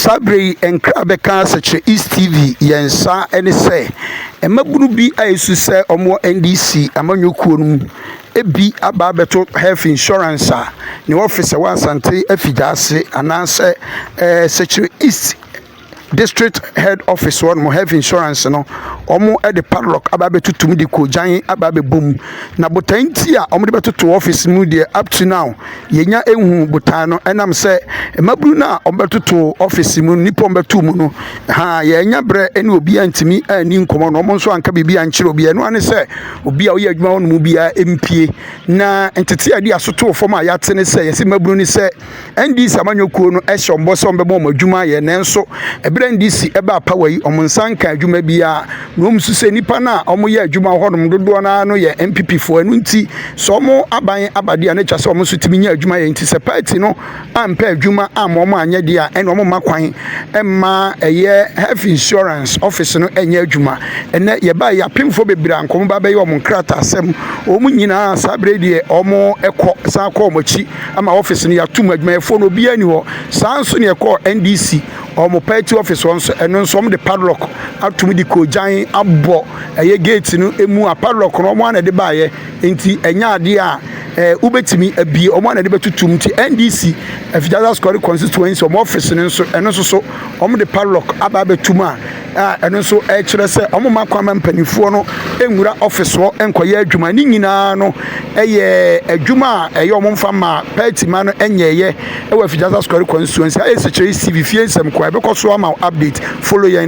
Saa berɛ yi nkra bɛka sɛkyerɛ East TV yɛn nsa ne sɛ mmabunu bi a ɛsu sɛ wɔn wɔ NDC amanyɔ kuo no mu bi aba abɛto health insurance a ne office ɛwɔ Asante afigya ase anaa sɛ ɛɛ sɛkyerɛ East district head office hɔ nom health insurance no wɔn de padlock aba abɛtoto mu de kɔgyan aba abɛbɔ mu na botae nti a wɔn de bɛtoto office mu deɛ up to now yɛnya ehu botae no ɛnam sɛ mmabunu no a wɔbɛtoto ɔfisi mu nnipa wɔbɛto mu no ha yɛanya berɛ ne obiara ntumi anni nkɔmmɔ na wɔn nso anka biribi ankyerɛ obiara ɛno ane sɛ obi a ɔyɛ adwuma hɔ no mu biara mpie na ntete a ɛde asotoo fam a yɛate ne sɛ yɛsi mmabunu ne sɛ ndc amanyɔkuo no ɛhyɛ wɔn bɔ sɛ wɔbɛma wɔn adwuma yɛ nanso ɛberɛ ndc ɛbaa pawa yi wɔn nsa nka adwuma biara na wɔn nso sɛ nnipa no a wɔyɛ adwuma wɔ hɔnom dodoɔ no ara no yɛ mpepefoɔ ɛno nti sɛ wɔn aban aba deɛ a na ɛtwa sɛ wɔn nso tumi nya adwuma yɛ nti sɛ party no ampɛ adwuma amma wɔn anyɛ deɛ a ɛna wɔn mma kwan mma ɛyɛ health insurance office no ɛnyɛ adwuma ɛnɛ yɛbaa yɛ apemfoɔ bebree a nkɔmɔ ba bɛyɛ wɔn nkrataa asɛm wɔn nyinaa saa bere deɛ wɔn ɛkɔ san kɔ wɔn akyi ama office no yɛatum adwumayɛfoɔ no obiara ni hɔ saa nso na ɛkɔɔ ndc Wɔn party office hɔ nso, ɛno nso wɔde padlock atom de koogyan abɔ ɛyɛ gate no mu a padlock no wɔn ara na ɛde baeɛ nti ɛnyɛ adeɛ a ɛɛ eh, wobɛtumi abie wɔn ara na ɛde bɛtutum nti NDC Afitasa Square constituency wɔn office no nso ɛno nso so wɔde padlock aba abɛtum a a ɛno nso ɛkyerɛ sɛ wɔn mma kwan ma mpanimfoɔ no nwura ɔfisoɔ nkɔyɛ adwuma ne nyinaa no ɛyɛ adwuma a ɛyɛ wɔn mfa ma pɛɛti ma no nyɛɛyɛ ɛwɔ afidjasa sukari kwan nsuo nsa ɛsikyerɛ cv fie nsɛm kɔ a ɛbɛkɔ so ama update follow yɛn